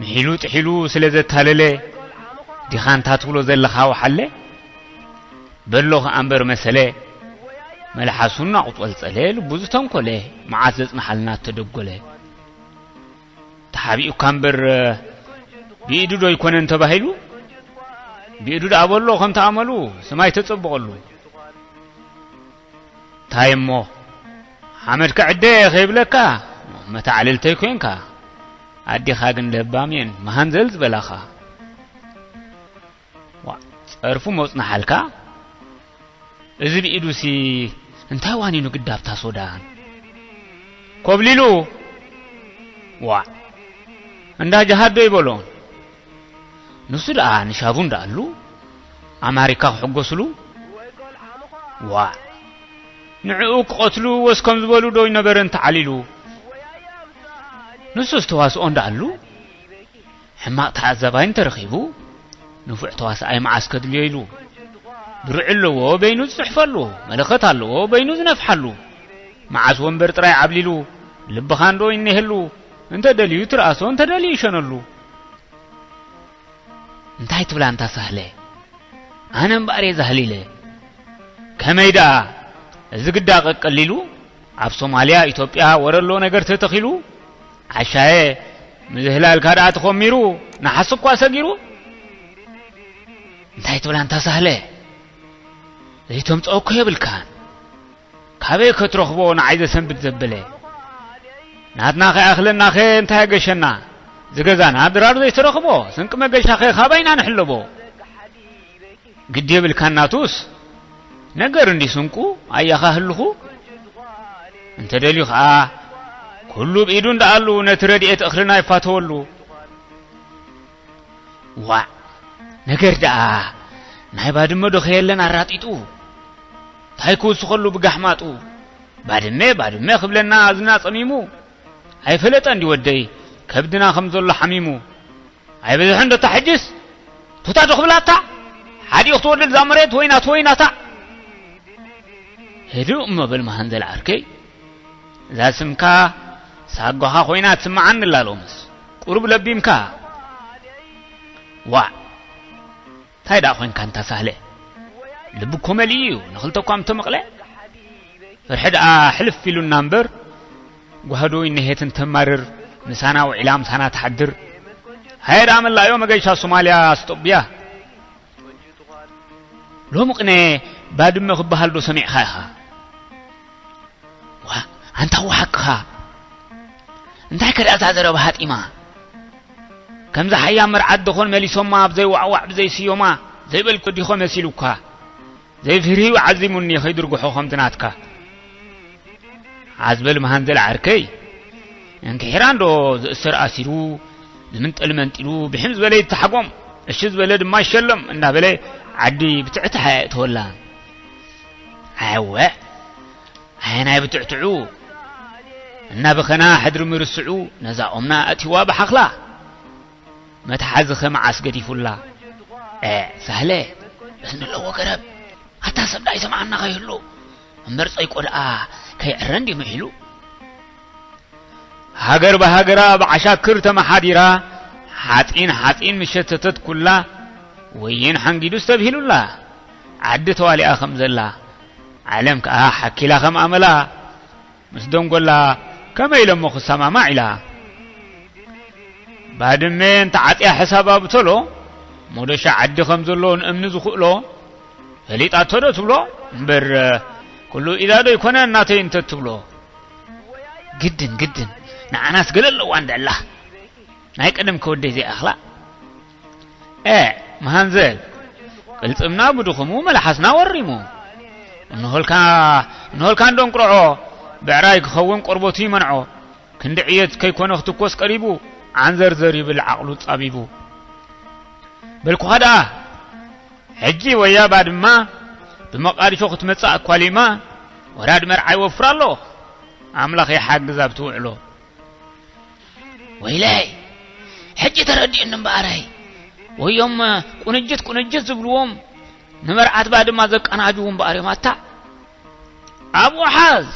ምሒሉ ጥሒሉ ስለ ዘታለለ ዲኻ እንታ ትብሎ ዘለኻ ወሓለ በሎ ኸኣ እምበር መሰለ መልሓሱ እናቑጸልጸለ ልቡ ዝተንኰለ መዓት ዘጽንሓልና እተደጐለ ተሓቢኡካ እምበር ብኢዱ ዶ ኣይኰነን ተባሂሉ ብኢዱ ደኣ በሎ ከምቲ ኣመሉ ስማይ ተጸብቐሉ ታይሞ ሓመድ ክዕደ እየ ከይብለካ መታዕልልተይ ኮንካ ኣዴኻ ግን ለባም እየን መሃንዘል ዝበላኻ ጸርፉ መጽናሓልካ እዚ ብኢዱሲ እንታይ ዋኒኑ ግዳብታ ሶዳን ኮብሊሉ ዋዕ እንዳ ጀሃዶ ይበሎ ንሱ ደኣ ንሻቡ እንዳኣሉ ኣማሪካ ክሕጎስሉ ዋእ ንዕኡ ክቐትሉ ወስ ከም ዝበሉ ዶ ይነበረ እንተዓሊሉ ንሱስ ተዋስኦ እንዳኣሉ ሕማቕ ተዓዛባይ እንተረኺቡ ንፉዕ ተዋስኣይ መዓስ ከድልዮ ኢሉ ድሩዕ ኣለዎ በይኑ ዝጽሕፈሉ መለኸት ኣለዎ በይኑ ዝነፍሓሉ መዓስ ወንበር ጥራይ ዓብሊሉ ልብኻንዶ ይኔህሉ እንተ ደልዩ ትርኣሶ እንተ ደልዩ ይሸነሉ። እንታይ ትብል ኣንታ ሳህለ ኣነ እምበኣር እየ ዛህሊለ። ከመይ ደኣ እዚ ግዳ ቀቀሊሉ ኣብ ሶማልያ ኢትዮጵያ ወረሎ ነገር ተተኺሉ ዓሻየ ምዝህላልካ ደኣ ተኾሚሩ ንሓስ እኳ ሰጊሩ እንታይ ትብል ኣንታ ሳህለ ዘይተምጽኦ እኮ የብልካን ካበይ ከትረኽቦ ንዓይ ዘሰንብድ ዘበለ ናትና ከይኣኽለናኸ እንታይ ኣገሸና ዝገዛና ድራር ዘይተረኽቦ ስንቂ መገሻኸ ካባይ ኢና ንሕለቦ ግዲ የብልካን ናቱስ ነገር እንዲ ስንቁ ኣያኻ ህልኹ እንተ ደልዩ ኸዓ ኩሉ ብኢዱ እንዳኣሉ ነቲ ረድኤት እኽልና ይፋተወሉ ዋዕ ነገር ደኣ ናይ ባድመ ዶ ከየለን ኣራጢጡ እንታይ ክውስኸሉ ብጋሕማጡ ባድመ ባድመ ክብለና እዝና ጸሚሙ ኣይፈለጠ እንዲ ወደይ ከብድና ከም ዘሎ ሓሚሙ ኣይበዝሐ እንዶታ ሕጅስ ቶታ ዶ ክብላታ ሓዲኡ ክትወርድ እዛ መሬት ወይናት ወይናታ ህዱእ እሞ በል መሃንዘል ዓርከይ እዛ ስምካ ሳጓኻ ኮይና ትስምዓኒ ኣላ ሎምስ ቁሩብ ለቢምካ ዋዕ እንታይ ደኣ ኮንካ እንታ ሳህለ ልቢ እኮ መሊኡ እዩ ንኽልተ እኳ ምተመቕለ ፍርሒ ደኣ ሕልፍ ኢሉና እምበር ጓህዶ ይነሄት እንተማርር ምሳና ውዒላ ምሳና ትሓድር ሃየ ደኣ መላእዮ መገሻ ሶማልያ ስጦብያ ሎሚ ቅነ ባድመ ክበሃል ዶ ሰሚዕኻ ኢኻ? ዋ ኣንታ እዋ ሓቅኻ እንታይ ከ እዛ ዘረባ ሃጢማ ከምዚ ሓያ መርዓት ደኾን መሊሶማ ኣብዘይ ዋዕዋዕ ብዘይ ስዮማ ዘይበልኩ ዲኾ መሲሉካ ዘይፍርሂው ዓዚሙኒ ከይድርጉሖ ከምቲ ናትካ ዓዝበል መሃንዘል ዓርከይ እንክሒራ እንዶ ዝእሰር ኣሲሩ ዝምንጠል መንጢሉ ብሒም ዝበለ ይተሓጎም እሺ ዝበለ ድማ ይሸለም እናበለ ዓዲ ብትዕትሓ የእተወላ ኣወ ኣየናይ ብትዕትዑ እናበኸና ሕድሪ ምርስዑ ነዛ ኦምና ኣእቲዋ ብሓኽላ መትሓዚኸ መዓስ ገዲፉላ? ኤእ ሳህለ እዝኒ ኣለዎ ገረብ ኣታ ሰብ ደኣ ይሰምዓና ከይህሉ እምበር ጸይቆ ደኣ ከይዕረ እንዲ ምዒሉ ሃገር ብሃገራ ብዓሻክር ተመሓዲራ ሓፂን ሓፂን ምሸተተት ኩላ ወይን ሓንጊዱ ዝተብሂሉላ ዓዲ ተዋሊኣ ከም ዘላ ዓለም ከዓ ሓኪላ ከም ኣመላ ምስ ደንጎላ ከመይ ኢለሞ ክሰማማዕ ኢላ ባድሜ እንተ ዓጽያ ሕሳባ ብተሎ ሞደሻ ዓዲ ከም ዘሎ ንእምኒ ዝኽእሎ ፈሊጣቶ ዶ ትብሎ እምበር ኩሉ ኢዳ ዶ ይኮነ እናተይ እንተ ትብሎ ግድን ግድን ንዓናስ ገለ ኣለዋ እንደላ ናይ ቀደም ከወደይ ዘይኣኽላ ኤእ መሃንዘል ቅልጽምና ብድኹሙ መልሓስና ወሪሙ እንሆልካ እንሆልካ እንዶንቁርዖ ብዕራይ ክኸውን ቆርበቱ ይመንዖ ክንዲ ዕየት ከይኮነ ክትኮስ ቀሪቡ ዓንዘርዘር ይብል ዓቕሉ ጻቢቡ በልኩኻ ደኣ ሕጂ ወያ ባድማ ብመቃዲሾ ክትመጽእ ኣኳሊማ ወራድ መርዓይ ወፍር ኣሎ ኣምላኽ ይሓግዝ ኣብቲ ውዕሎ ወይለይ ሕጂ ተረዲኡኒ እምበኣረይ ወዮም ቁንጅት ቁንጅት ዝብልዎም ንመርዓት ባድማ ዘቀናጅዉ እምበኣር እዮም ኣታ ኣብኡ ሓዝ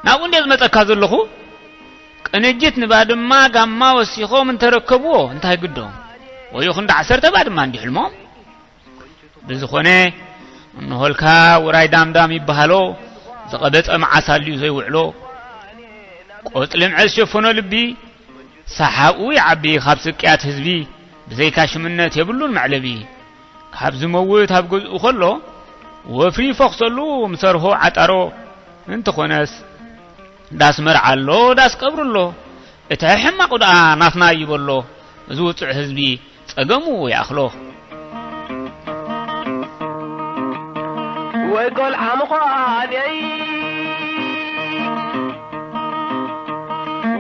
ናብኡ እንደ ዝመፀካ ዘለኹ ቅንጅት ንባድማ ጋማ ወሲኾም እንተረከብዎ እንታይ ግዶም ወዮ ክንዲ ዓሰርተ ባድማ እንዲ ሕልሞም ብዝኾነ እንሆልካ ውራይ ዳምዳም ይበሃሎ ዝቐበፀ መዓስ ኣልዩ ዘይውዕሎ ቆፅሊ ምዐዝ ሸፈኖ ልቢ ሰሓኡ ይዓቢ ካብ ስቅያት ህዝቢ ብዘይካ ሽምነት የብሉን መዕለቢ ካብ ዝመውት ኣብ ገዝኡ ከሎ ወፍሪ ይፈኽሰሉ ምሰርሆ ዓጣሮ እንተኾነስ ዳስ መርዓ ኣሎ ዳስ ቀብሪ ኣሎ እቲ ሕማቑ ደኣ ናትና ይበሎ እዚ ውፅዕ ህዝቢ ጸገሙ ይኣኽሎ። ወይ ቆልዓ ምዃነይ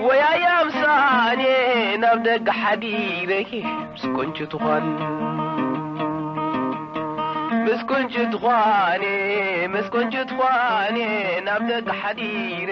ወይ ኣያ ምሳኔ ናብ ደገ ሓዲረ ምስ ቁንጪ ትዃን ምስ ቁንጪ ትዃኔ ምስ ቁንጪ ትዃኔ ናብ ደገ ሓዲረ